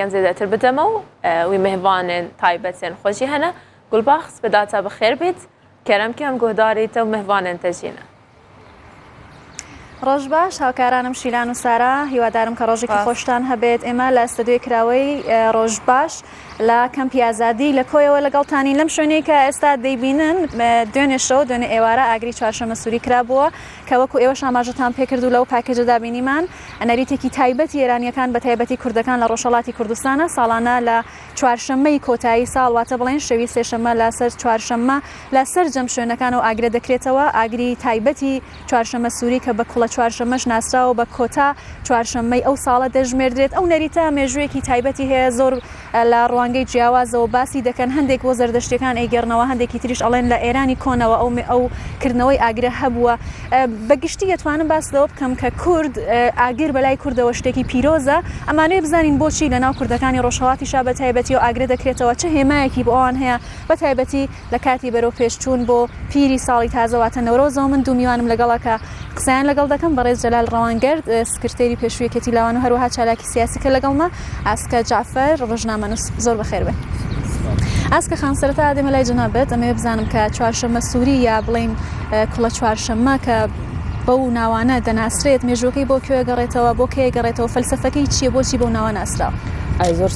یان زێدەتر بدەمە و وی مهڤانێن تایبەتێن خۆ جی هەنە گولباخس بە داتا بخێر بیت کەرەم کەم گۆهداریتە و مهڤانێن تەجینە ڕۆژ باش هاوکارانم شیلان و سارا هیوادارم کە ڕۆژێکی خۆشتان هەبێت ئێمە لە ستدوێ کراوەی ڕۆژ باش لە کەم پیازادی لە کۆیەوە لەگەڵتانی لەم شوێنەی کە ئێستا دەیبینن دوێنێ شەو دوێنێ ئێوارە ئاگری چوارشەمە سووری کرابووە کە وەکو ئێوە شاماژتان پێکرد و لەو پاکێجە دابینیمان ئەنالیتێکی تایبەتی ئێرانییەکان بە تایبەتی کوردەکان لە ڕۆژهەڵاتی کوردستانە ساڵانە لە چوارشەممەی کۆتایی ساڵ واتە بڵێن شەوی سێشەممە لە سەر چوارشەممە لە سەرجەم شوێنەکانەوە ئاگرە دەکرێتەوە ئاگری تایبەتی چوارشەممە سووری کە بە کوڵە چوارشەممەش ناسراوە بە کۆتا چوارشەممەی ئەو ساڵە دەژمێردرێت ئەو نەریتە مێژوویەکی تایبەتی هەیە زۆر لە ڕوانگەی جیاوازەوە باسی دەکەن، هەندێک بۆ زەردەشتیەکان ئەیگێڕنەوە، هەندێکی تریش ئەڵێن لە ئێرانی کۆنەوە ئەو ئەو کردنەوەی ئاگرە هەبووە. بە گشتی ئەتوانم باس لەوە بکەم کە کورد ئاگر بە لای کوردەوە شتێکی پیرۆزە، ئەمانەوێ بزانین بۆچی لە ناو کوردەکانی ڕۆژهەڵاتیشا بە تایبەتیەوە ئاگرە دەکرێتەوە، چ هێمایەکی بۆ ئەوان هەیە بە تایبەتی؟ لە کاتی بەرەو پێش چوون بۆ پیری ساڵی تازە واتە نەورۆزەوە من دوو میوانم لەگەڵە کە قسەیان لەگەڵ دەکەم بەڕێز جەلال ڕەوانگەر سکرتێری پێشووی یەکێتی لاوان و هەروەها چالاکی سیاسی کە لەگەڵمە ئاسکە جەعفەر ڕۆژنامەنووس زۆر بەخێر بێن. ئاسکە خان سەرەتا دێمە لای جەنابت ئەمەوێ بزانم کە چوارشەممە سووری یا بڵێین کوڵە چوارشەممە کە بەو ناوانە دەناسرێت مێژووەکەی بۆ کوێ گەڕێتەوە بۆ کێ گەڕێتەوە فەلسەفەکەی چییە بۆچی بەو ناوە ناسراوە؟ ئای زۆر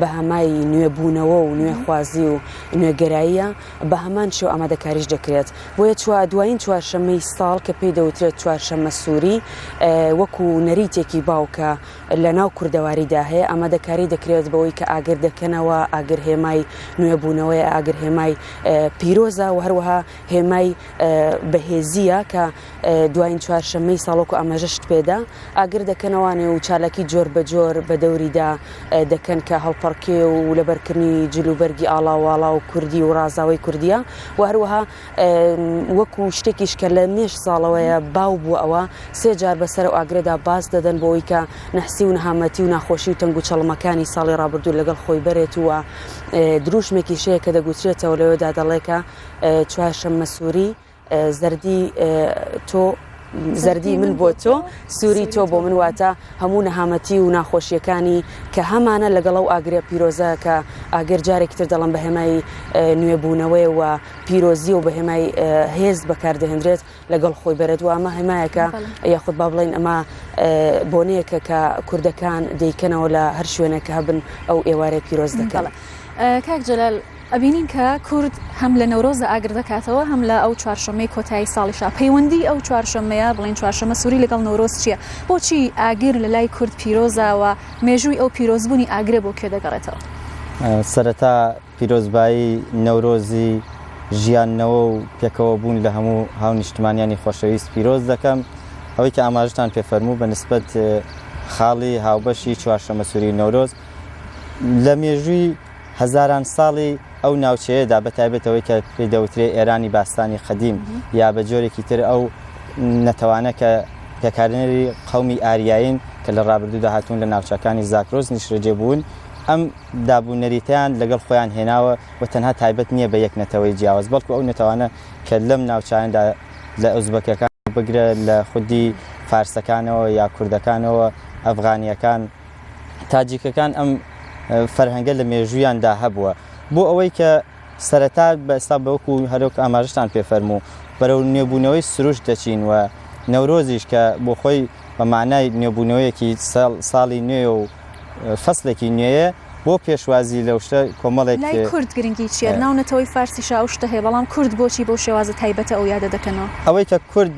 بەهەمای نوێبوونەوە و نوێخوازی و نوێگەراییە، بەهەمان شێوە ئامادەکاریش دەکرێت. بۆیە چوا دوایین چوارشەممەی ساڵ کە پێی دەوترێت چوارشەممە سووری، وەکو نەریتێکی باو کە لە ناو کوردەواریدا هەیە، ئامادەکاری دەکرێت بەوەی کە ئاگر دەکەنەوە، ئاگر هێمای نوێبوونەوەیە، ئاگر هێمای پیرۆزە و هەروەها هێمای بەهێزییە کە. دواین چوارشەممەی ساڵ وەکو ئاماژە شت پێدا ئاگر دەکەنەوانێ و چالاکی جۆر بە جۆر بە دەوریدا دەکەن کە هەڵپەڕکێ و لەبەرکردنی جلوبەرگی ئاڵاواڵا و کوردی و ڕازاوی کوردیە و هەروەها وەکو شتێکیش کە لە مێش ساڵەوەیە باو بووە ئەوە سێ جار بەسەر و ئاگرێدا باز دەدەن بۆی کە نەحسی و نەهامەتی و ناخۆشی و تەنگ و چەڵمەکانی ساڵی ڕابردوو لەگەڵ خۆی بەرێت وە دروشمێکی شەیە کە دەگوترێتەوە لەوەدا دەڵێکە چوارشەممە سووری زەردی تۆ زەردی من بۆ تۆ سووری تۆ بۆ من واتە هەموو نەهامەتی و ناخۆشیەکانی کە هەمانە لەگەڵ و ئاگرێ پیرۆزە کە ئاگەر جارێکی تر دەڵم بە هێمای نوێبوونەوەی و پیرۆزی و بە هێمای هێز بەکاردەهێنرێت لەگەڵ خۆی بەرێت و ئەمە هەمایەکە یاخود با بڵین ئەمە بۆنەیەکە کە کوردەکان دەیکەنەوە لە هەر شوێنێک هەبن ئەو ئێوارەی پیرۆز دەکەڵە کاک جلال ئەبینین کە کورد هەم لە نەورۆزدا ئاگر دەکاتەوە هەم لە ئەو چوارشەممەی کۆتایی ساڵیشا، پەیوەندیی ئەو چوارشەممەیە، بڵێین چوارشەممە سووری لەگەڵ نەورۆز چییە؟ بۆچی ئاگر لە لای کورد پیرۆزە و مێژووی ئەو پیرۆزبوونی ئاگرە بۆ کوێ دەگەڕێتەوە؟ سەرەتا پیرۆزبایی نەورۆزی ژیاندنەوە و پێکەوەبوون لە هەموو هاونیشتمانیانی خۆشەویست پیرۆز دەکەم. ئەوەی کە ئاماژەتان پێ فەرموو بە نسبەت خاڵی هاوبەشی چوارشەممە سووری و نەورۆز لە مێژووی، هەزاران ساڵی ئەو ناوچەیەدا بە تایبەت ئەوەی کە پێی دەوترێ ئێرانی باستانی قەدیم یا بە جۆرێکی تر ئەو نەتەوانە کە پێکهێنەری قەومی ئاریایین کە لە ڕابردوودا هاتوون لە ناوچەکانی زاکرۆس نیشرەجێ بوون ئەم داب و نەریتەیان لەگەڵ خۆیان هێناوە و تەنها تایبەت نییە بە یەک نەتەوەی جیاواز بەڵکو ئەو نەتەوانە کە لەم ناوچەیاندا لە ئۆزبەکەکان بگرە لە خودی فارسەکانەوە یا کوردەکانەوە ئەفغانییەکان تاجیکەکان ئەم فەرهەنگە لە مێژوویاندا هەبووە بۆ ئەوەی کە سەرەتا بە ئێستا بەوەکو هەرۆک ئاماژتان پێ فەرموو بەرەو نوێبوونەوەی سروشت دەچین و نەورۆزیش کە بۆ خۆی بە مانای نوێبوونەوەیەکی ساڵی نوێ و فەسلێکی نوێیە بۆ پێشوازی لەو شتە کۆمەڵێک لای کورد گرنگی چیە ناو نەتەوەی فارسیشا ئەو شتە هەیە بەڵام کورد بۆچی بەو شێوازە تایبەتە ئەو یادە دەکەنەوە ئەوەی کە کورد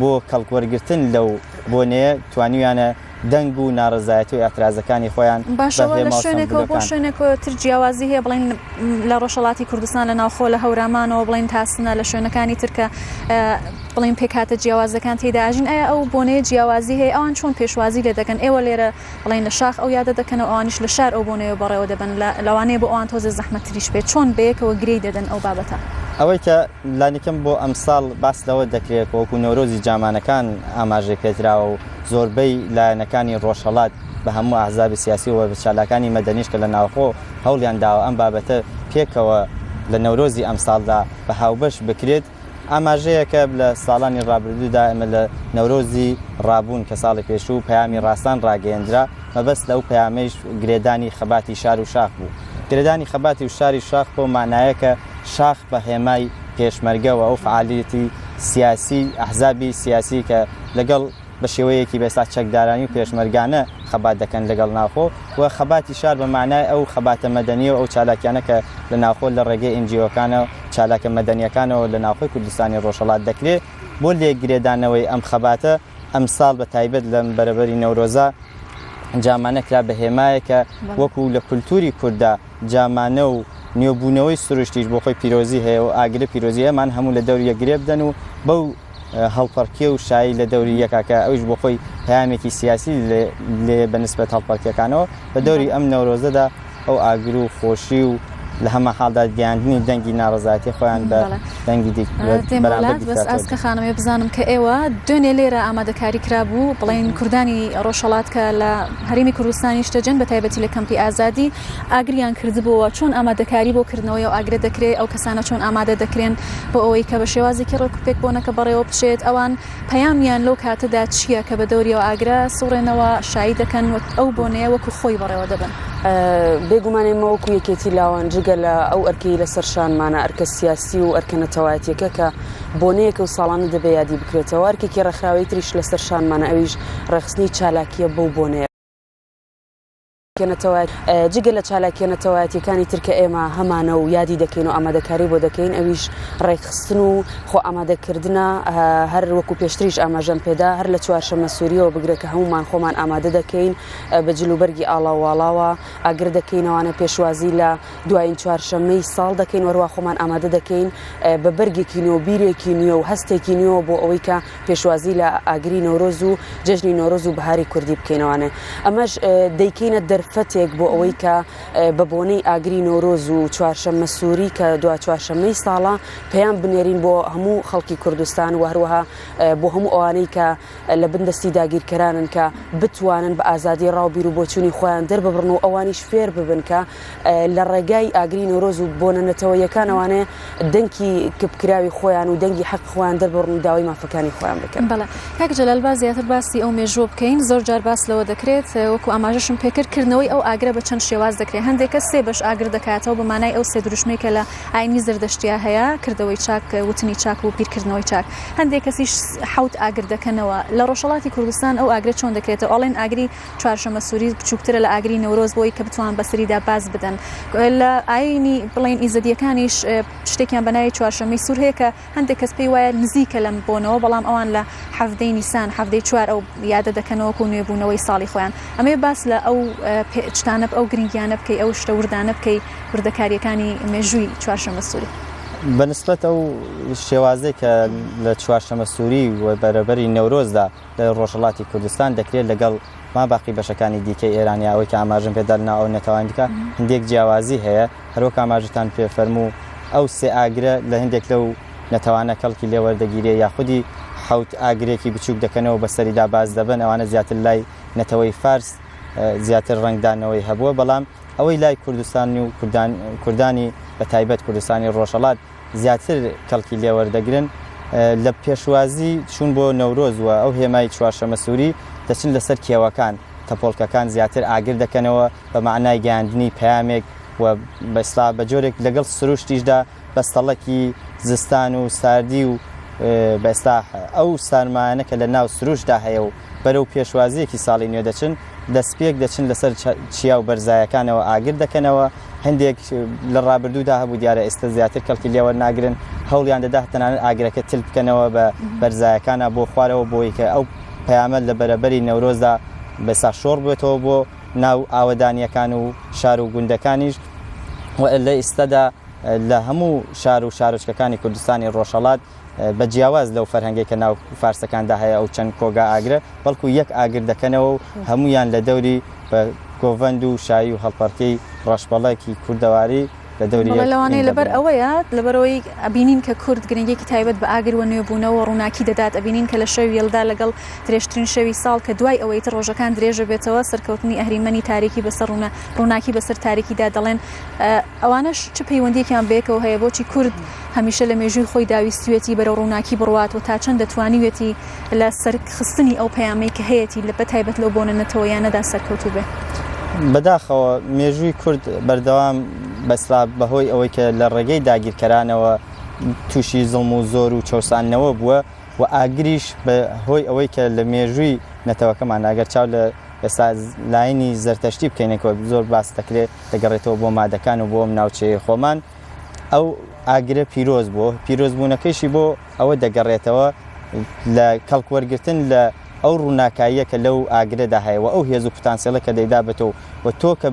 بۆ کەڵکوەرگرتن لەو بۆنەیە توانیویانە دەنگ و نارەزایەتی و ئیعترازەکانی خۆیان باشەوە لە شوێنێکەوە بۆ شوێنێکەوە تر جیاوازی هەیە بڵین لە ڕۆژهڵاتی کوردستان لە ناوخۆ لە هەورامانەوە بڵین تاسنە لە شوێنەکانی ترکە بڵین پێکاتە جیاوازەکان تێداژین ئەە ئەو بۆنەیە جیاوازی هەیە ئەوان چۆن پێشوازی لێ دەکەن ئێوە لێرە بڵێن لە شاخ ئەو یادە دەکەنەوە ئەوانیش لە شار ئەو بۆنەیەوە بەڕێوە دەبەن لە لەوانەیە بۆ ئەوان تۆزێ زەحمەت تریش بێت چۆن بەیەکەوە گرێی دەدەن ئەو بابەتە. ئەوەی کە لانیکەم بۆ ئەمساڵ باس لەوە دەکرێت کە وەکو نەورۆزی جامانەکان ئاماژەی پێدراوە و زۆربەی لایەنەکانی ڕۆژهەڵات بە هەموو ئەحزابی سیاسی و چالاکانی مەدەنیش کە لە ناوخۆ هەوڵیان داوە ئەم بابەتە پێکەوە لە نەورۆزی ئەمساڵدا بە هاوبەش بکرێت، ئاماژەیەکە لە ساڵانی ڕابردوودا ئێمە لە نەورۆزی ڕابوون کە ساڵی پێشوو پەیامی ڕاستان ڕاگەیەندرا مەبەست لەو پەیامەیش گرێدانی خەباتی شار و شاخ بوو گرێدانی خەباتی و شاری شاخ بۆ مانایەکە شاخ بە هێمای پێشمەرگەوە ئەو فعالیتی سیاسی ئەحزابی سیاسی کە لەگەڵ بە شێوەیەکی بە ئێستا چەکدارانی و پێشمەرگانە خەبات دەکەن لەگەڵ ناوخۆ و خەباتی شار بە مانای ئەو خەباتە مەدەنیە و ئەو چالاکیانە کە لە ناوخۆ لە ڕێگەی ئێن جی ئۆکانە و چالاکە مەدەنیەکانەوە لە ناوخۆی کوردستانی ڕۆژهەڵات دەکرێ بۆ لێکگرێدانەوەی ئەم خەباتە ئەمساڵ بە تایبەت لەم بەرەبەری نەورۆزە جامانە کرا بە هێمایەک کە وەکوو لە کولتووری کورددا جامانە و نوێبوونەوەی سروشتیش بۆ خۆی پیرۆزی هەیە و ئاگرە پیرۆزیەمان هەموو لە دەور یەک گرێ بدەن و بەو هەڵپەڕکێ و شایی لە دەوری یەکا کە ئەویش بۆ خۆی پەیامێکی سیاسی لێ بە نسبەت هەڵپەڕکێکانەوە بە دەوری ئەم نەورۆزەدا ئەو ئاگر و خۆشی و لە هەمە حاڵدا گەیاندنی دەنگی ناڕزایەتی خۆیان بە دەنگی دیکەسکە خانمێ بزانم کە ئێوە دوێنێ لێرە ئامادەکاری کرابوو بڵین کوردانی ڕۆژهڵات کە لە هەرمی کوردستانی شتەجەن بە تایبەتی لە کەمپی ئازادی ئاگریان کردبۆوە، چۆن ئامادەکاری بۆ کردنەوەی ئەو ئاگرە دەکرێ، ئەو کەسانە چۆن ئامادە دەکرێن بۆ ئەوەی کە بە شێوازێکی ڕێک و پێک بۆنەکە بەڕێوە بچێت، ئەوان پەیامیان لەو کاتەدا چییە کە بە دەوری ئەو ئاگرە سوڕێنەوە، شایی دەکەن و ئەو بۆنەیە وەکو خۆی بەڕێوە دەبەن. بێ گومان ئێمە وەکو یەکێتی لاوان جگە لە ئەو ئەرکەی لە سەر شانمانە، ئەرکە سیاسی و ئەرکە نەتەوایەتیەکە کە بۆنەیەکە و ساڵانە دەبێ یادی بکرێتەوە، ئەرکێکی ڕێکخراوەی تریش لە سەر شانمانە ئەویش ڕێکخستنی چالاکییە بەو بۆنەیە. جگە لە چالاکیە نەتەوایەتیەکانی تر کە ئێمە هەمانە و یادی دەکەین و ئامادەکاری بۆ دەکەین ئەویش ڕێکخستن و خۆ ئامادەکردە هەر وەکو پێشتریش ئاماژەم پێدا هەر لە چوارشەمە سووریەوە بگرێت کە هەمومان خۆمان ئامادە دەکەین بە جلوبەرگی ئاڵاواڵاوە ئاگر دەکەینەوانە پێشوازی لە دوایین چوارشەمەی ساڵ دەکەین وەروا خۆمان ئامادە دەکەین بە بەرگێکی نوێ و بیرێکی نوێ و هەستێکی نوێەوە بۆ ئەوەی کە پێشوازی لە ئاگری نەورۆز و جەژنی نۆرۆز و بەهاری کوردی بکەینەوانێ ئەمەش دەیکەینە دەرفەتێک بۆ ئەوەی کە بە بۆنەی ئاگری نۆرۆز و چوارشەممە سووری کە دو چوارشەممەی ساڵە پێیان بنێرین بۆ هەموو خەڵکی کوردستان و هەروەها بۆ هەموو ئەوانەی کە لە بندەستی داگیرکەرانن کە بتوانن بە ئازادی ڕاو بیر و بۆچوونی خۆیان دەرببڕن و ئەوانیش فێر ببن کە لە ڕێگای ئاگری نەورۆز و بۆنە نەتەوەیەکانەوانەیە دەنکی کپکراوی خۆیان و دەنگی حەق خۆیان دەربڕن و داوای مافەکانی خۆیان بکەن بەڵێ کاک جەلال با زیاتر باسی ئەو مێژووە بکەین زۆر جار باس لەوە دەکرێت وەکو ئاماژەشم پێکرد کردنەوەی ئەو ئاگرە بە چەند شێواز دەکرێت هەندێک کە سێ بەش ئاگر دەکاتەوە بە مانای ئەو سێ دروشمەی کە لە ئاینی زردەشتیا هەیە کردەوەی چاک وتنی چاک و بیرکردنەوەی چاک هەندێک کەسیش حوت ئاگر دەکەنەوە لە ڕۆژهڵاتی کوردستان ئەو ئاگرە چۆن دەکرێتەوە ئەڵێن ئاگری چوارشەمە سوری بچووکترە لە ئاگری نەورۆز بۆی کە بتوان بەسەریدا باز بدەن لە ئاینی بڵین ئیزدیەکانیش شتێکیان بەناوی چوارشەمەی سوور هەیە کە هەندێک کەس پێی وایە نزیکە لەم بۆنەوە بەڵام ئەوان لە حەفتەی نیسان حەفتەی چوار ئەو یادە دەکەنەوەکو نوێبوونەوەی ساڵی خۆیان ئەمێ باس لە ئەو پێچتانە ئەو گرنگیانە بکەی ئەو شتە وردانە بکەی وردەکاریەکانی مێژووی چوارشەمە سووری بەنسبەت ئەو شێوازێک کە لە چوارشەمە سووری و بەرەبەری نەورۆزدا لە ڕۆژهەڵاتی کوردستان دەکرێت لەگەڵ ماباقی بەشەکانی دیکەی ئێرانیا ئەوەی کە ئاماژەم پێ دەنا ئەو نەتەوان دیکە هندێک جیاوازی هەیە هەرۆک ئاماژتان پێ فەرموو ئەو سێ ئاگرە لە هندێک لەو نەتەوانە کەڵکی لێوەردەگیرێ یاخودی حوت ئاگرێکی بچووک دەکەنەوە بەسەریدا باز دەبن ئەوانە زیاتر لای نەتەوەی فارس زیاتر ڕنگدانەوەی هەبووە بەڵام ئەوەی لای کوردستانی و کوردانی بە تایبەت کوردستانی ڕۆژەڵات زیاتر کەڵکی لێ وەردەگرن، لە پێشوازی چوون بۆ نەورۆز و ئەو هێمای چوارشەمە سووری، دەچن لەسەر کێوەکان، تەپۆڵکەکان زیاتر ئاگر دەکەنەوە بە مەعنای گەیاندنی پەیامێک و بە ئیسڵاح بە جۆرێک لەگەڵ سروشتیشدا بەستەڵەکی زستان و ساردی و بە ئیسڵاح ئەو سارمایانە کە لە ناو سروشتدا هەیە و بەرەو پێشوازییەکی ساڵی نوێ دەچن، دەستپێک دەچن لەسەر چیا و بەرزایەکانەوە ئاگر دەکەنەوە، هەندێک لە ڕابردوودا هەبوو دیارە ئێستا زیاتر کەڵکی لێ وەرناگرن، هەوڵیان دەدا تەنانەت ئاگرەکە تل بکەنەوە بە بەرزایەکانە بۆ خوارەوە بۆی کە ئەو پەیامە لە بەرەبەری نەورۆزدا بەسا شۆڕ بێتەوە بۆ ناو ئاوەدانییەکان و شار و گوندەکانیش و لە ئێستادا لە هەموو شار و شارۆچکەکانی کوردستانی ڕۆژهەڵات بە جیاواز لەو فەرهەنگەی کە ناو فارسەکاندا هەیە ئەو چەند کۆگا ئاگرە بەڵکو یەک ئاگر دەکەنەوە و هەمویان لە دەوری بە گۆڤەند و شایی و هەڵپەڕکەی ڕەشبەڵەکی کوردەواری لە دەوری یەک لەوانەیە ئینگە لەبەر بنێن. ئەوەیە لەبەرەوەی ئەبینین کە کورد گرنگیەکی تایبەت بە ئاگر و نوێبوونەوە و ڕووناکی دەدات ئەبینین کە لە شەوی یەلدا لەگەڵ درێژترین شەوی ساڵ کە دوای ئەوەی تر ڕۆژەکان درێژە بێتەوە سەرکەوتنی ئەهریمەنی تاریکی بەسەر ڕوونە ڕووناکی بەسەر تاریکیدا دەڵێن ئەوانەش چ پەیوەندیەکیان بەیەکەوە هەیە بۆچی کورد هەمیشە لە مێژووی خۆیدا ویستویەتی بەرەو ڕووناکی بڕوات و تا چەندە توانیویەتی لە سەرخستنی ئەو پەیامەی کە هەیەتی لە بەتایبەت لەو بۆنە نەتەوەییانەدا سەرکەوتوو بێ. بەداخەوە مێژووی کورد بەردەوام بە سلاڤ بەهۆی ئەوەی کە لە ڕێگەی داگیرکەرانەوە تووشی زڵم و زۆر و چەوساندنەوە بووە و ئاگریش بە هۆی ئەوەی کە لە مێژووی نەتەوەکەمان ئەگەر چاو لە ئێستا لایەنی زەرتەشتی بکەینەکەوە زۆر باس دەکرێت دەگەڕێتەوە بۆ مادەکان و بۆ ئەم ناوچەیە خۆمان ئەو ئاگرە پیرۆز بووە، پیرۆزبوونەکەیشی بۆ ئەوە دەگەڕێتەوە لە کەڵک وەرگرتن لە ئەو ڕووناکاییە کە لەو ئاگرەدا هەیە و ئەو هێز و پتانسێڵە کە دەیدا بە تۆ و و تۆ کە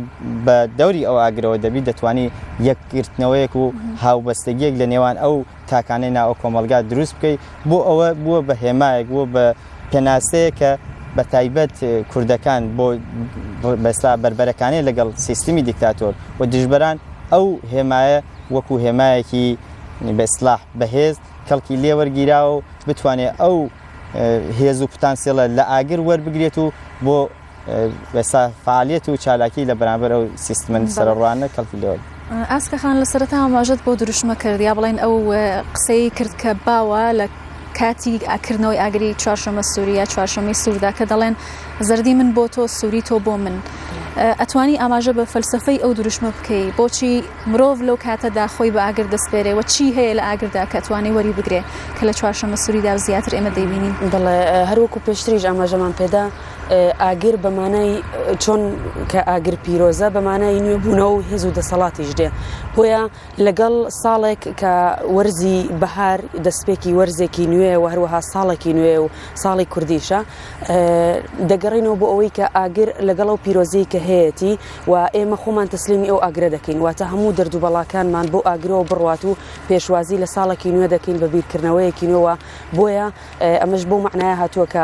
بە دەوری ئەو ئاگرەوە دەبیت دەتوانی یەکگرتنەوەیەک و هاوبەستەگییەک لە نێوان ئەو تاکانەی نائۆ کۆمەڵگا دروست بکەی بۆ ئەوە بووە بە هێمایەک بووە بە پێناسەیە کە بە تایبەت کوردەکان بۆ بەسا بەربەرەکانەی لەگەڵ سیستمی دیکتاتۆر و دژبەران ئەو هێمایە وەکو هێمایەکی بەسلاح بەهێز کەڵکی لێوەرگیراوە و بتوانێت ئەو هێز و پتانسیڵە لە ئاگر وەربگرێت و بۆ ئێستا فعالیت و چالاکی لە بەرامبەر ئەو سیستمە سەرڕوانە کەڵکی لێوە ئاسکە خان لە سەرەتا ئاماژەت بۆ دروشمە کرد یا بڵێن ئەو قسەی کرد کە باوە لە کاتی ئاکردنەوەی ئاگری چوارشەمە سووریا چوارشەمەی سووردا کە دەڵێن زەردی من بۆ تۆ سووری تۆ بۆ من ئەتوانی ئاماژە بە فەلسفەی ئەو دروشمە بکەی بۆچی مرۆڤ لەو کاتەدا خۆی بە ئاگر دەستپێرێ و چی هەیە لە ئاگردا کە توانێ وەری بگرێ کە لە چوارشەمە سووریدا زیاتر ئێمە دەبینین دڵێ هەروەکو پێشتریش ئاماژەمان پێدا ئاگر بە مانای چۆن کە ئاگر پیرۆزە بە مانای نوێبوونەوە و هێز و دەسەڵاتیش دێ بۆیە لەگەڵ ساڵێک کە وەرزی بەهار دەستپێکی وەرزێکی نوێ و هەروەها ساڵێکی نوێ و ساڵی کوردیشە دەگەڕینەوە بۆ ئەوەی کە ئاگر لەگەڵ و پیرۆزی کە هەیەی و ئێمە خۆمان تەسلیمی ئەو ئاگرە دەکەین واتە هەموو دەردو بەڵاکانمان بۆ ئاگرەوە بڕات و پێشوازی لە ساڵێکی نوێ دەکەین بە بیرکردنەوەیەکی نوێوە بۆیە ئەمەش بۆ معناە هاتووە کە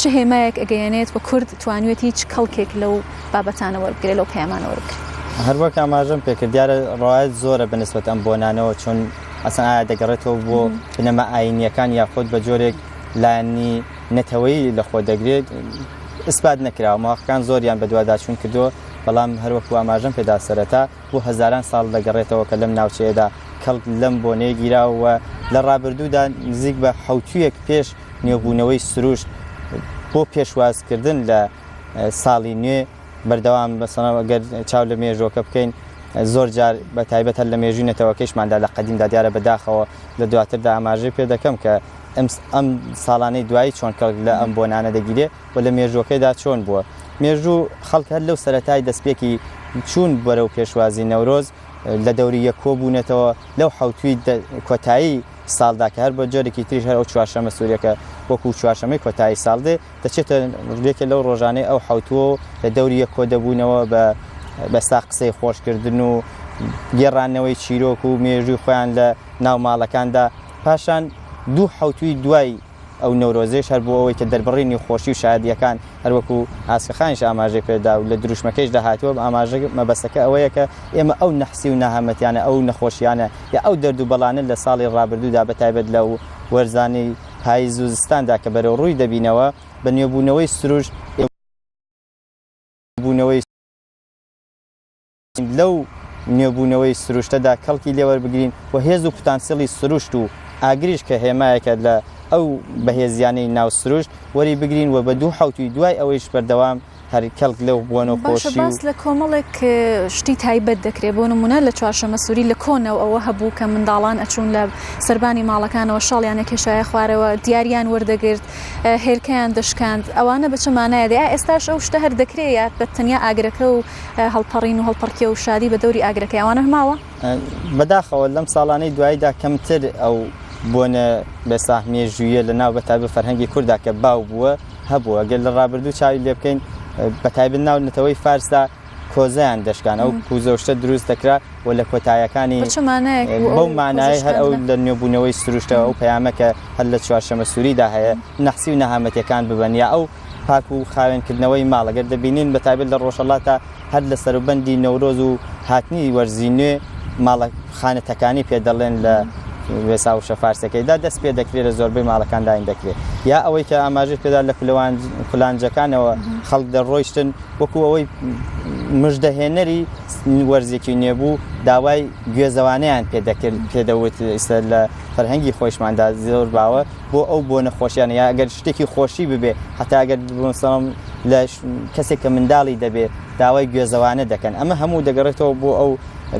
چ هێمایەک ئەگەیەنێت و کورد توانیوێتی چ کەڵکێک لەو بابەتانە وەربگرێت، لەو پەیامانە وەربگرێت؟ هەر وەک ئاماژەم پێ کرد، دیارە ڕەوایەت زۆرە بە نسبەت ئەم بۆنانەوە، چون ئەسڵەن ئایا دەگەڕێتەوە بۆ بنەما ئایینییەکان یاخود بە جۆرێک لایەنی نەتەوەیی لەخۆ دەگرێت، ئیسپات نەکراوە. موهەقیقان زۆریان بەدواداچوون کردووە، بەڵام هەر وەکوو ئاماژەم پێ دا سەرەتا، بۆ هەزاران ساڵ دەگەڕێتەوە کە لەم ناوچەیەدا کەڵک لەم بۆنەیە گیراوە و لە ڕابردوودا نزیک بە حەوتوویەک پێش نوێبوونەوەی سروشت بۆ پێشوازکردن لە ساڵی نوێ بەردەوام بەسەنە گەر چاو لە مێژۆکە بکەین زۆر جار بە تایبەت هەر لە مێژووی نەتەوەکەیشماندا لە قەدیمدا دیارە بەداخەوە لە دواتردا ئاماژەی پێ دەکەم کە ئەم ساڵانەی دوایی چۆن کەڵک لە ئەم بۆنانە دەگیرێ و لە مێژووەکەیدا چۆن بووە؟ مێژوو خەڵک هەر لەو سەرەتای دەستپێکی چوون بەرەو پێشوازی نەورۆز لە دەوری یەک کۆ بوونەتەوە، لەو حەوتووی کۆتایی ساڵدا کە هەر بە جۆرێکی تریش هەر ئەو چوارشەمە سوورەکە وەکوو چوارشەمەی کۆتایی ساڵ دێ، دەچێتە یەکێ لەو ڕۆژانەی ئەو حەوتووە و لە دەوری یەک کۆ دەبوونەوە بە بە ساخ قسەی خۆش کردن و گێڕانەوەی چیرۆک و مێژووی خۆیان لە ناو ماڵەکاندا، پاشان دوو حەوتووی دوای ئەو نەورۆزەیش هەر بۆ ئەوەی کە دەربڕینی خۆشی و شادییەکان هەروەکو ئاسکەخانیش ئاماژەی پێدا و لە دروشمەکەیشدا هاتووە ئاماژە مەبەستەکە ئەوەیە کە ئێمە ئەو نەحسی و نەهامەتیانە ئەو نەخۆشیانە یا ئەو دەرد و بەڵانە لە ساڵی ڕابردوودا بە تایبەت لە وەرزانی پایز و زستاندا کە بەرەوڕووی دەبینەوە بە نوێبوونەوەی سروشت بوونەوەی لەو نوێبوونەوەی سروشتەدا کەڵکی لێ وەربگرین و هێز و پتانسیڵی سروشت و ئاگریش کە هێمایەکە لە ئەو بەهێزیانەی ناو سروشت وەری بگرین و بە دوو حەوتووی دوای ئەوەیش بەردەوام هەر کەڵک لەو بۆن و باشە خۆشی و باس لە کۆمەڵێک اه، شتی تایبەت دەکرێ بۆ نموونە لە چوارشەمەسووری لە کۆنەو ئەوە هەبوو کە منداڵان ئەچوون لە سەربانی ماڵەکانەوە شاڵیان ئەکێشایە خوارەوە دیاریان وەردەگرت اه، هێلکەیان دەشکاند ئەوانە بە چ مانایە دێ ئا ئێستاش ئەو شتە هەر دەکرێ یا بە تەنیا ئاگرەکە و هەڵپەڕین و هەڵپەڕکێ و شادی بە دەوری ئاگرەکەی ئەوانە ماوە بەداخەوە لەم ساڵانەی دواییدا کەمتر ئەو بۆنە بەساح مێژوویە لە ناو بەتای بە فەرهەنگی کووردا کە باو بووە هەبووە گەل لە ڕابردوو چاوی لێ بکەین بەتایبن ناو نەتەوەی فارسدا کۆزیان دەشکان ئەو کوزەشتە دروست دەکرا و لە کۆتایەکانی بەو مانای هەر ئەو لە نوێبوونەوەی سروشتە ئەو پەیامەکە هەر لە چوارشەمە سووریدا هەیە نەحسی و نەهامەتەکان ببەن یا ئەو پاک و خاوێن کردنەوەی ماڵ گەر دەبینین بە تایبەت لە ڕۆژهەڵاتە هەر لە سەروبەندی نەورۆز و هاتنی وەرزی نوێ ماڵە خانە تەکانی پێ دەڵێن لە وێسا و شەفارسەکەیدا دەست پێ دەکرێت لە زۆربەی ماڵەکان داین دەکرێت یا ئەوەی کە ئاماژە پێدا لە کولەوان کولانجەکانەوە خەڵک دەڕۆیشتن وەکو ئەوەی مژدەهێنەری وەرزێکی نێبوو داوای گوێزەوانیان پێ دەکرد پێدەوت ئیستا لە فەرهەنگی خۆشماندا زۆر باوە بۆ ئەو بۆ نەخۆشیانە یا ئەگەر شتێکی خۆشی ببێ هەتا ئەگەر بسەڵم لە کەسێک کە منداڵی دەبێت داوای گوێزەوانە دەکەن ئەمە هەموو دەگەڕێتەوە بۆ ئەو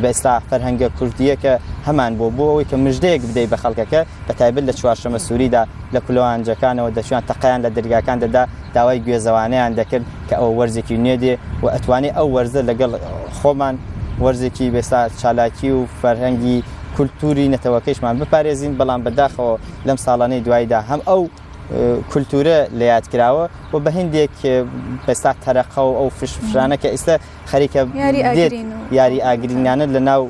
بەستا فەرهەنگە کوردیەکە هەمان بۆ بۆ ئەوەی کە مژدەیەک بدەی بە خەڵکەکە بە تایبەت لە چوارشەمە سووریدا لە کولەوانجەکانەوە دەچوان تەقیان لە دەرگاکان دەدا داوای گوێزەوانیان دەکرد کە ئەو وەرزێکی نوێ دێ و ئەتوانێت ئەو وەرزە لەگەڵ خۆمان وەرزێکی بێستا چالاکی و فەرهەنگی کولتوری نەتەوەکەشمان بپارێزین بەڵام بەداخەوە لەم ساڵانەی دوایدا هەم ئەو کولتورە لە یاد کراوە و بە هندێک بەستا تەرەقە و ئەو فشفرانە کە ئێستا خەریکە یاری ئاگرینانە لە ناو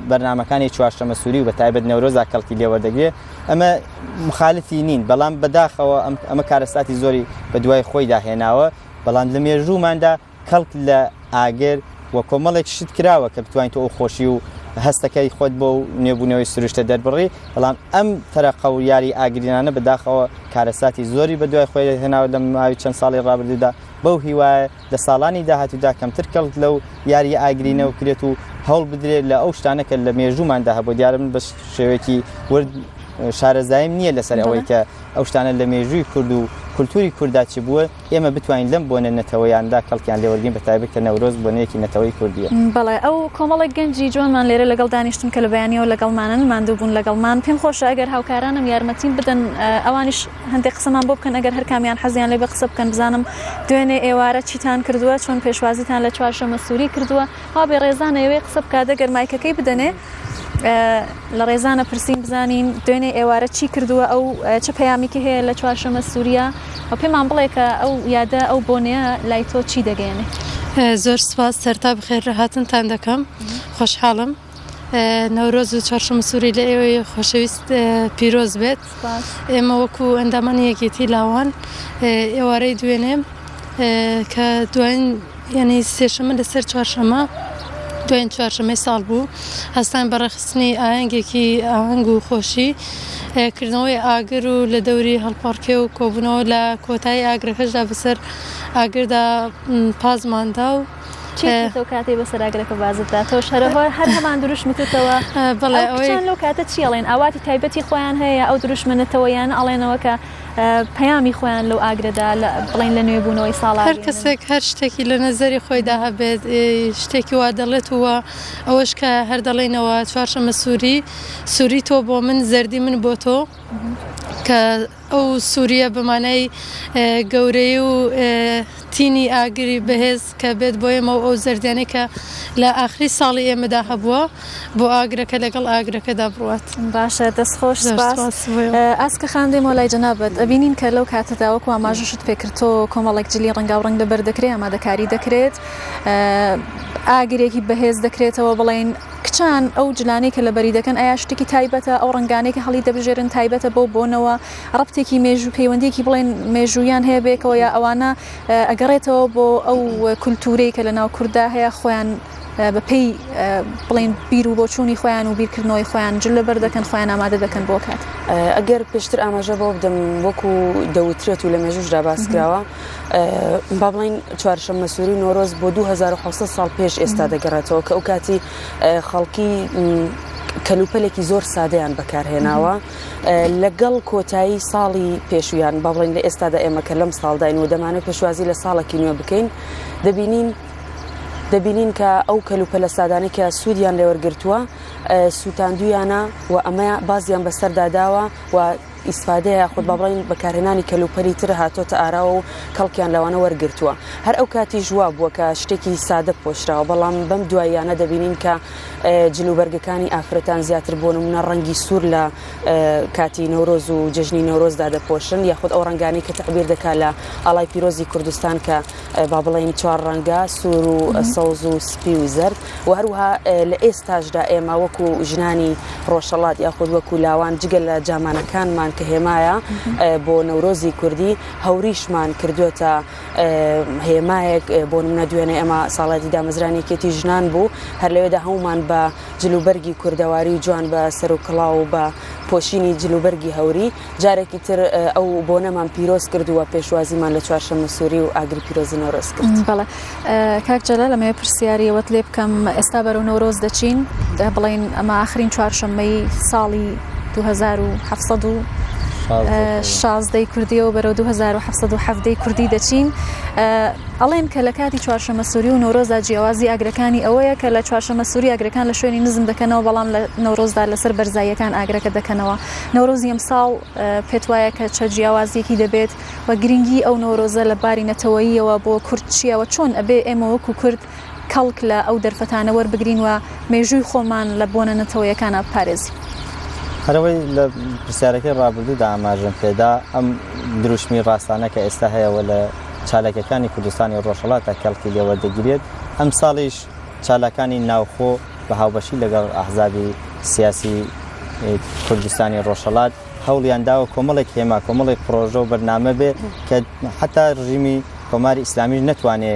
بەرنمەکانی چوارشەمە سووری و بە تایبەت نەورۆزا کەڵکی لێوەردەگرێت ئەمە مخالفی نین بەڵام بەداخەوە ئەمە کارەساتی زۆری بە دوای خۆیدا هێناوە بەڵام لە مێژووماندا کەڵک لە ئاگر و کۆمەڵێک شت کراوە کە بتوانین تۆ ئەو خۆشی و هەستەکەی خۆت بۆ و نوێبوونەوەی سروشتە دەربڕی بەڵام ئەم تەرەقە و یاری ئاگرینانە بەداخەوە کارەساتی زۆری بە دوای خۆی هێناوە لە ماوەی چەند ساڵی ڕابردوودا بەو هیوایە لە ساڵانی داهاتوودا کەمتر کەڵک لەو یاریە ئاگرینە بکرێت و هەوڵ بدرێت لە ئەو شتانە کە لە مێژووماندا هەبوو دیارە من بە شێوەیەکی ورد شارەزاییم نییە لەسەر ئەوەی کە ئەو شتانە لە مێژووی کورد و کولتوری کورددا چی بووە ئێمە بتوانین لەم بۆنە نەتەوەیاندا کەڵکیان لێوەرگین بە تایبەت کە نەورۆز بۆنەیەکی نەتەوەی کوردیە. بەڵێ ئەو کۆمەڵێک گەنجی جوانمان لێرە لەگەڵ دانیشتون کە لە بەیانیەوە لەگەڵمانن ماندوو بوون لەگەڵمان پێم خۆشە ئەگەر هاوکارانم یارمەتیم بدەن ئەوانیش هەندێک قسەمان بۆ بکەن ئەگەر هەر کامیان حەزیان لێ بێ قسە بکەن بزانم دوێنێ ئێوارە چیتان کردووە چۆن پێشوازیتان لە چوارشەمە سوری کردووە وا بێ ڕێزانە یەوێ قسە بکات ئەگەر مایکەکەی بدەنێ لە ڕێزانە پرسین بزانین دوێنێ ئێوارە چی کردووە ئەو چ پەیامیکی هەیە لە چوارشەمە سووریا و پێمان بڵێ کە ئەو یادە ئەو بۆنەیە لای تۆ چی دەگەێنێ زۆر سپاس سەرتا بخێر لە هاتنتان دەکەم خۆشحاڵم نەورۆز و چارشم سووری لە ئێوەی خۆشەویست پیرۆز بێت ئێمە وەکو ئەندامانی یەکێتی لاوان ئێوارەی دوێنێ کە دواین یعنی سێشەمە لەسەر چوارشەمە دوێن چوارشەمەی ساڵ بوو هەستان بەڕەخستنی ئاهنگێکی ئاهنگ و خۆشی کردنەوەی ئاگر و لە دەوری هەڵپەڕکێ و کۆبوونەوە لە کۆتایی ئاگرەکەشدا بەسەر ئاگردا پازماندا و چێتەوە کاتی بەسەر ئاگرەکە بازت داتەوە شەرەوە هەر هەمان دروش متتەوە بڵێ ئەویان لەو کاتە چیڵێن ئاواتی تایبەتی خۆیان هەیە ئەو دروشمەنەتەوە یان ئەڵێنەوە کە پەیامی خۆیان لەو ئاگرەدا لە بڵین لە نوێبوونەوەی ساڵ هەر کەسێک هەر شتێکی لە نەزەری خۆیدا هەبێت شتێکی وا دەڵێت وە ئەوەش کە هەر دەڵێنەوە چوارشەمە سووری سووری تۆ بۆ من زەردی من بۆ تۆ کە ئەو سوورییە بە مانای گەورەیی و تینی ئاگری بەهێز کە بێت بۆ ئێمە و ئەو زەردیانەی کە لە ئاخری ساڵی ئێمەدا هەبووە بۆ ئاگرەکە لەگەڵ ئاگرەکەدا بڕوات. باشە دەست خۆش سپاس. ئاسکە خان دێمەوە لای جەنابت ئەبینین کە لەو کاتەدا وەکو ئاماژەشت پێکردۆ کۆمەڵێک جلی ڕەنگاو ڕەنگ لەبەر دەکرێ ئامادەکاری دەکرێت ئاگرێکی بەهێز دەکرێتەوە بڵێن کچان، ئەو جلانەی کە لەبەری دەکەن، ئایا شتێکی تایبەتە؟ ئەو ڕەنگانەی کە هەڵی دەبژێرن تایبەتە بەو بۆنەوە؟ ڕەبتێکی مێژوو، پەیوەندییەکی بڵێن مێژووییان هەیە بەیەکەوە یا ئەوانە ئەگەڕێتەوە بۆ ئەو کولتوورەی کە لەناو کورددا هەیە خۆیان بەپێی بڵێن بیر و بۆچوونی خۆیان و بیرکردنەوەی خۆیان جل لەبەر دەکەن خۆیان ئامادە دەکەن بۆ کات؟ ئەگەر پێشتر ئاماژە بەوە بدەم وەکو دەوترێت و لە مێژووشدا باسکراوە، با بڵین چوارشەممە سووری نۆرۆز بۆ 2600 ساڵ پێش ئێستا دەگەڕێتەوە کە ئەو کاتی خەڵکی کەلوپەلێکی زۆر سادەیان بەکارهێناوە لەگەڵ کۆتایی ساڵی پێشویان با بڵین لە ئێستادا ئێمە کە لەم ساڵداین و دەمانە پێشوازی لە ساڵێکی نوێ بکەین دەبینین دەبینین کە ئەو کەلوپە لە سادانە کە سوودیان لێوەرگتووە سووتاندویانە و ئەمە بازیان بەسەرداداوە و ئیستفادەیە یاخود با بڵێین بەکارهێنانی کەلوپەلی تر هاتۆتە ئاراوە و کەڵکیان لەوانە وەرگرتووە هەر ئەو کاتی ژوا بووە کە شتێکی سادە پۆشراوە بەڵام بەم دواییانە دەبینین کە جلوبەرگەکانی ئافرەتان زیاتر بۆ نمونە ڕەنگی سوور لە کاتی نەورۆز و جژنی نەورۆزدا دەپۆشن یاخود ئەو ڕنگانی کە تعبیر دەکا لە ئاڵای پیرۆزی کوردستان کە با بڵین چوار ڕەنگە سوور و سەوز و سپی و زرد و هەروەها لە ئێستاشدا ئێمە وەکو ژنانی ڕۆژەڵات یاخود وەکو لاوان جگە لە جامانەکانمان کە هێمایە بۆ نەورۆزی کوردی هەوریشمان کردوێتە هێمایەک بۆ منە دوێنێ ئەمە ساڵاتی دامەزرانێکێتی ژنان بوو هەر لەوێدا هەمومان بە جلوبەرگی کوردەواری جوان بە سەر و کڵاو و بە پۆشینی جلوبەرگی هەوری جارێکی تر ئەو بۆنەمان پیرۆز کردووە پێشوازیمان لە چوارشەمە سووری و ئاگری پیرۆزی نەورۆز کرد بەڵێ کاک جەلە لەمەوێ پرسیاریەوەت لێ بکەم ئێستا بەرەو نەورۆز دەچین دە بڵین ئەمە آخرین چوارشەممەی ساڵی 1970 و شازدەی کوردی و بەرەو 1970 کوردی دەچین ئەڵێن کە لە کاتی چوارشەمە سووری و نۆرۆزا جیاوازی ئاگرەکانی ئەوەیە کە لە چوارشەمە سووری ئاگرەکان لە شوێنی نزم دەکەنەوە بەڵام لە نۆرۆزدا لەسەر بەرزاییەکان ئاگرەکە دەکەنەوە نەورۆزی ئەمساڵ پێت وایە کە چە جیاوازیەکی دەبێت و گرنگی ئەو نۆرۆزە لە باری نەتەوەییەوە بۆ کورد چییە و چۆن ئەبێ ئێمە وەکو کورد کەڵک لە ئەو دەرفەتانە وەربگرین و مێژووی خۆمان لە بۆنە نەتەوەیەکانە بپارێزین؟ هەرەوەی لە پرسیارەکەی ڕابردوودا ئاماژەم پێدا ئەم دروشمی ڕاستانە کە ئێستا هەیەەوە لە چالاکەکانی کوردستانی ڕۆژهڵاتە کەڵکی لێوەردەگیرێت ئەم ساڵیش چالاکانی ناوخۆ بە هاوبەشی لەگەڵ ئەحزابی سیاسی کوردستانی ڕۆژهەڵات هەوڵیان داوە کۆمەڵێک هێما کۆمەڵێک پرۆژە و بەرنامە بێ کە حتا ڕژیمی کۆماری ئیسلامیش نەتوانێ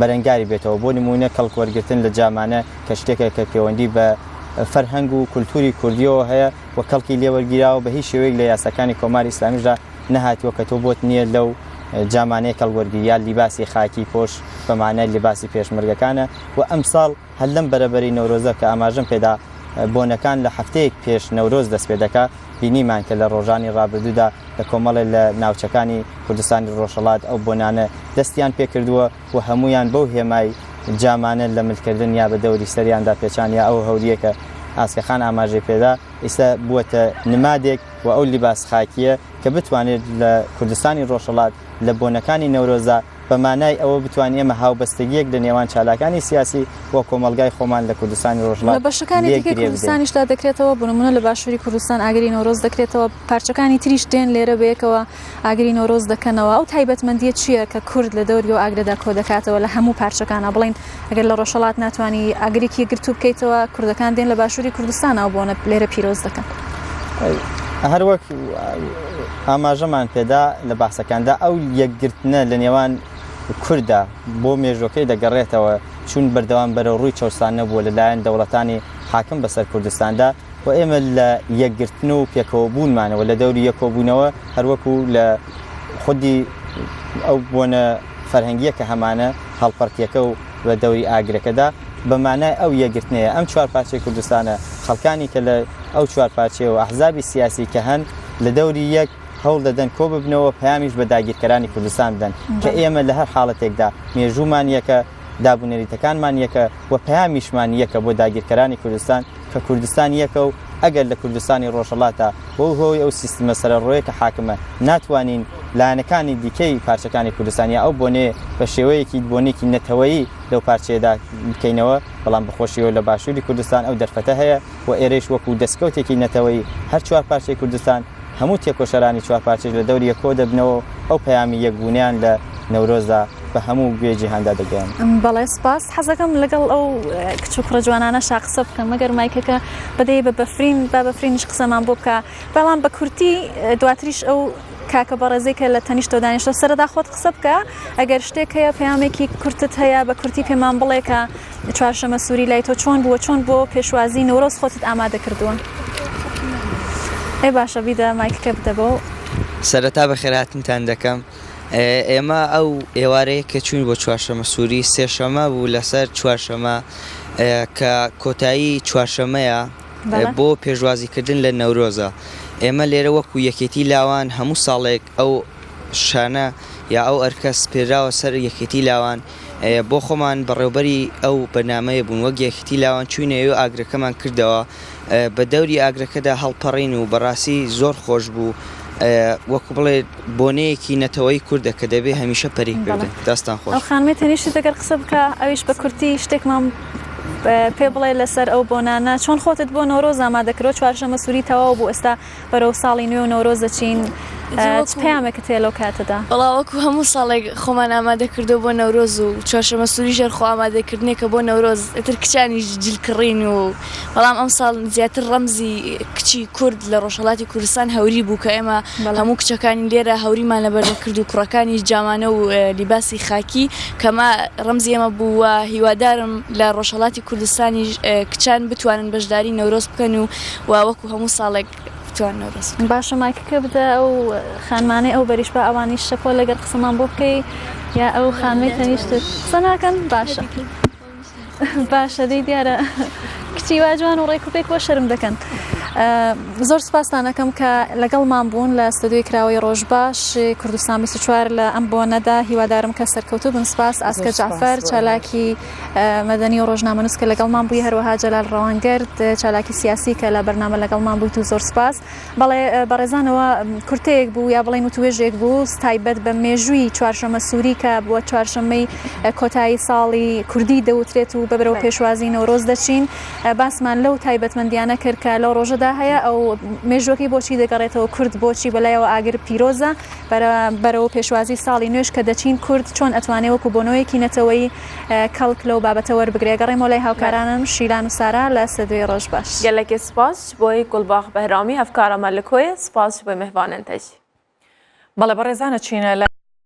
بەرەنگاری بێتەوە بۆ نمونە کەڵک وەرگتن لە جامانە کە شتێکە کە پەیوەندی بە فەرهەنگ و کولتوری کوردیەوە هەیە و کەڵکی لێوەرگیراوە بە هیچ شێوەیەک لە یاساکانی کۆماری ئیسلامیشدا نەهاتووە کە تۆ بۆت نییە لەو جامانەی کەڵوەرگری یا لیباسی خاکی پۆش بە مانای لیباسی پێشمەرگەکانە و ئەمساڵ هەر لەم بەرەبەری نەورۆزە کە ئاماژەم پێدا بۆنەکان لە هەفتەیەک پێش نەورۆز دەست پێ دەکا بینیمان کە لە ڕۆژانی ڕابردوودا لە کۆمەڵێ لە ناوچەکانی کوردستانی ڕۆژهەڵات ئەو بۆنانە دەستیان پێکردووە و هەموویان بەو هێمای جامانە لە ملکردن یا بە دەوری سەریاندا پێچان یا ئەو هەوریەکە ئاسکەخان ئاماژەی پێدا ئیستا بووەتە نمادێک و ئەو لیباس خاکییە کە بتوانێت لە کوردستانی ڕۆژهەڵات لە بۆنەکانی نەورۆزدا بە مانای ئەوە بتوانین ئێمە هاوبەستەگییەک لە نێوان چالاکانی سیاسی و کۆمەڵگای خۆمان لە کوردستانی ڕۆژهەڵات لە بەشەکانی دیکەی کوردستانیشدا دەکرێتەوە بۆ نموونە لە باشووری کوردستان ئاگری نەورۆز دەکرێتەوە پارچەکانی تریش دێن لێرە بەیەکەوە ئاگری نەورۆز دەکەنەوە ئەو تایبەتمەندیە چییە کە کورد لە دەوری و ئاگرەدا کۆ دەکاتەوە لە هەموو پارچەکانە بڵین ئەگەر لە ڕۆژهڵات ناتوانانی ئاگرێکی گرتو بکەیتەوە کوردەکان دێن لە باشووری کوردستان ئەو بۆنە لێرە پیرۆز دەکەن هەروەک ئاماژەمان پێدا لە باسەکاندا ئەو یەکگرتنە لە نێوان کووردا بۆ مێژوەکەی دەگەڕێتەوە چون بەردەوام بەرە ڕووی چەسان نەبووە لەلایەن دەوڵەتانی حاکم بەسەر کوردستاندا و ئێمە لە یەکگرتن و پێکەوە بوونمانەوە لە دەوری یەکۆ بوونەوە هەر وەکوو لە خودی ئەو بۆنە فەرهەنگییە کە هەمانە هەڵپەڕکێکە و بە دەوری ئاگرەکەدا بە مانای ئەو یەکگرتنەیە ئەم چوار پارچەی کوردستانە خەڵکانی کە لە ئەو چوار پارچەیە و ئەحزابی سیاسی کە هەن لە دەوری یەک هەوڵ دەدەن کۆ ببنەوە پەیامیش بە داگیرکەرانی کوردستان بدەن کە ئێمە لە هەر حاڵەتێکدا مێژوومان یەکە دابونەریتەکانمان یەکە و پەیامیشمان یەکە بۆ داگیرکەرانی کوردستان. کە کوردستان یەکە و ئەگەر لە کوردستانی ڕۆژهەڵاتا بەو هۆی ئەو سیستمە سەرەڕۆیە کە حاکمە ناتوانین لایەنەکانی دیکەی پارچەکانی کوردستان یا ئەو بۆنێ بە شێوەیەکی بۆنێکی نەتەوەیی لەو پارچەیەدا بکەینەوە بەڵام بەخۆشیەوە لە باشووری کوردستان ئەو دەرفەتە هەیە و ئێرەیش وەکو دەستکەوتێکی نەتەوەیی هەر چوار پارچەی کوردستان هەموو تێکۆشەرانی چوار پارچەش لە دەوری یەک کۆدەبنەوە و ئەو پەیامی یەکبوونیان لە نەورۆزدا بە هەموو گوێ جیهاندا دەگەن بەڵێ سپاس حەزەکەم لەگەڵ ئەو کچ و کوڕە جوانانە شا قسە بکەم مەگەر مایکەکە بدەی بە بەفرین با بەفرینش قسەمان بۆ بکە بەڵام بە کورتی دواتریش ئەو کاکە بەڕێزی کە لە تەنیشتۆ دانیشتۆ سەردا خۆت قسە بکە ئەگەر شتێک هەیە پامێکی کورتت هەیە بە کورتی پێمان بڵێکە چوارشەمە سووری لای تۆ چۆن بووە چۆن بۆ پێشوازی نەورۆز خۆتت ئامادە کردووە ئێ باشە بیدە مایکەکە بدەبەوە سەرەتا بە خێراتنتان دەکەم. ئێمە ئەو ئێوارەیە کە چووین بۆ چوارشەمە سووری سێشەمە بوو لەسەر چوارشەمە کە کۆتایی چوارشەمەیە بۆ پێشوازیکردن لە نەورۆزە ئێمە لێرە وەکو یەکێتی لاوان هەموو ساڵێک ئەو شانە یا ئەو ئەرکە سپێراوە سەر یەکێتی لاوان بۆ خۆمان بەڕێوبەری ئەو بەنامەیە بوون وەک یەکێتی لاوان چوینەوە ئاگرەکەمان کردەوە بە دەوری ئاگرەکەدا هەڵپەڕین و بەڕاستی زۆر خۆش بوو وەکو بڵێ بۆنەیەکی نەتەوەی کوردە کە دەبێ هەمیشە پەری بگرن داستان خۆش خانمێ تەنیشت دەگەر قسە بکە ئەویش بە کورتی شتێکمان پێ بڵێ لەسەر ئەو بۆنانە چۆن خۆتت بۆ نۆرۆز ئامادەکرۆ چوارشەمە سووری تەواو بوو ئێستا بەرەو ساڵی نوێ و نەورۆز دەچین چ پامێکت هەیە لەو کاتەدا بەڵاوەکو هەموو ساڵێک خۆمان ئامادەکردو بۆ نەورۆز و چوارشەمە سووری ژێر خۆ ئامادەکردنێکە بۆ نەورۆز ئتر کچانی جلکڕین و بەڵام ئەم ساڵ زیاتر ڕەمزی کچی کورد لە ڕۆژهڵاتی کوردستان هەوری بوو کە ئێمە هەموو کچەکانی لێرە هەوریمان لە بەردەکرد و کوڕەکانی جامانە و لیباسی خاکی کەمە ڕەمزی ئێمە بووە هیوادارم لە ڕۆژهڵاتی کوردستانی کچان بتوانن بەشداری نەورۆز بکەن و و وەکو هەموو ساڵێک بتوان نەورۆز باشە مایکەکە بدە ئەو خانمانەی ئەو بەریش بە ئەوانی شەپۆ لەگەر قسەمان بۆ بکەی یا ئەو خانمی تەنیشت قسە ناکەن باشە باشە دەی دیارە کچی واجوان و ڕێک و پێک بۆ شەرم دەکەن. زۆر سپاسانەکەم کە لەگەڵمان بوون لە ستۆدیۆی کراوەی ڕۆژ باش کوردستان 24 لە ئەم بۆ نەدا هیوادارم کە سەرکەوتو بن سپاس ئاسکە جعفر چالاکی مەدەنی و ڕۆژنامەنووس کە لەگەڵمان بووی هەروەها جەلال ڕەوانگرد چالاکی سیاسی کە لە بەرنامە لەگەڵمان بوویت و زۆر سپاس بەڵێ بەڕێزانەوە کورتەیەک بوو یا بڵین و توێژێک بوو تایبەت بە مێژووی چوارشەمە سووری کە بووە چوارشەمەی کۆتایی ساڵی کوردی دەوترێت و بەبرەوە پێشوازی نەورۆز دەچین باسمان لەو تایبەتمەندیانە کرد کە لەو ڕۆژەدا هەیە ئەو مێژوەکەی بۆچی دەگەڕێتەوە کورد بۆچی بەلایەوە ئاگر پیرۆزە بەرەوە پێشوازی ساڵی نوێش کە دەچین کورد چۆن ئەتوانێ وەکو بۆنەوەیەکی نەتەوەی کەڵک لەو بابەتە وەربگرێ گەڕێمەوە لای هاوکارانم شیلان و سارا لە سدوی ڕۆژ باش. گەلەکی سپاس جی بۆی گوڵباخ بەهرامی هەڤکارە مە لکۆیە سپاس جی بۆی مهڤانن تە جی. بەڵێ بەڕێزانە چینە لە.